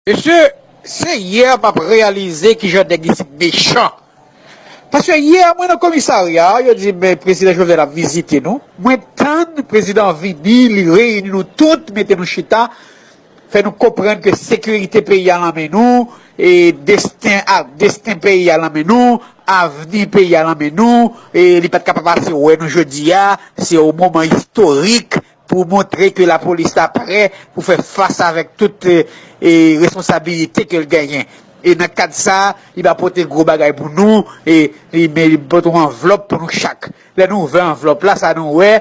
Mesye se hier map reyalize kijan nèg isit mechan paske hier mwen nan komisarya yo di m prezidan Jovenel ap vizite nou mwen tann prezidan an vini li reyini nou tout mete nou chita fè nou konprann ke sekirite peyi a nan men nou e desten a desten peyi a nan men nou avni peyi a nan men nou e li pat ka pa pase wè nou jodi a se yon moman istorik Pou montre ke lapolis la prè pou fè fas avèk tout responsabilite ke l genyen. E nan kad sa, li va pote gwo bagay pou nou, e li pote yon anvlòp pou nou chak. Lè nou ouvè anvlòp la, sa nou wè,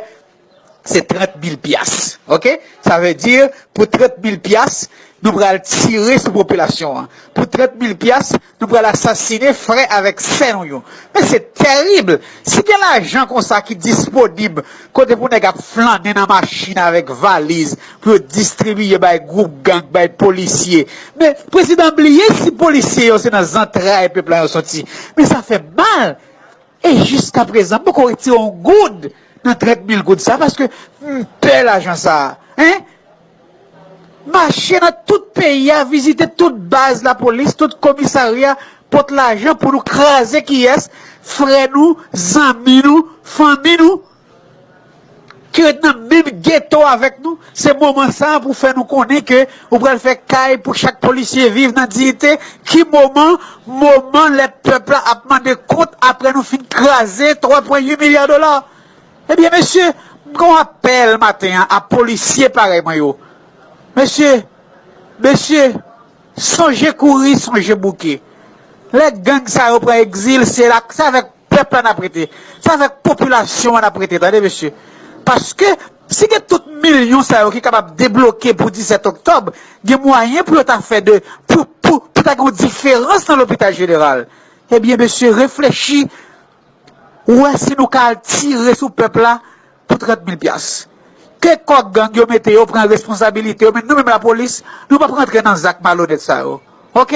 se 30 mil pyas. Ok? Sa vle di, pou 30 mil pyas, nou pral tire sou popilasyon an. Pou 30 mil pyas, Nou pral asasine frè avèk sè nou yo. Men se tèrib! Si gen lajan konsa ki disponib kote pou nèg ap flannen nan machin avèk valiz pou yo distribiye bay gwoup gang, bay polisye. Men prezidan bliye si polisye yo se nan zantray pèp la yo soti. Men sa fè mal! E jiska prezan m poko retire yon goud nan 30 mil goud sa paske m pè lajan sa a. Hein! Mache nan tout peyi a vizite tout baz lapolis tout komisarya pot lajan pou nou kraze kiyès frè nou zanmi nou fanmi nou ki ret nan menm geto avèk nou se moman sa pou fè nou konnen ke ou pral fè kay pou chak polisye viv nan diyite ki moman moman lè pèp la ap mande kont aprè nou fin kraze 3 pwen 8 milya dola Ebyen mesye m gon apèl maten an a polisye parèy mwen yo mesye mesye sonje kouri sonje bouke lè gang sa yo pran egzil se la se avèk pèp la nap rete se avèk popilasyon an nap rete tande mesye paske si gen tout milyon sa yo ki kapab debloke pou 17 oktòb gen mwayen pou yo ta fè de pou pou pou ta gen yon diferans nan lopital jeneral ebyen mesye reflechi Ou wè si nou ka al tire sou pèp la pou 30 mil pyas. Ke kò gang yo mete yo pran responsabilite yo men nou menm lapolis nou pap rantre nan zak malonèt sa yo ok.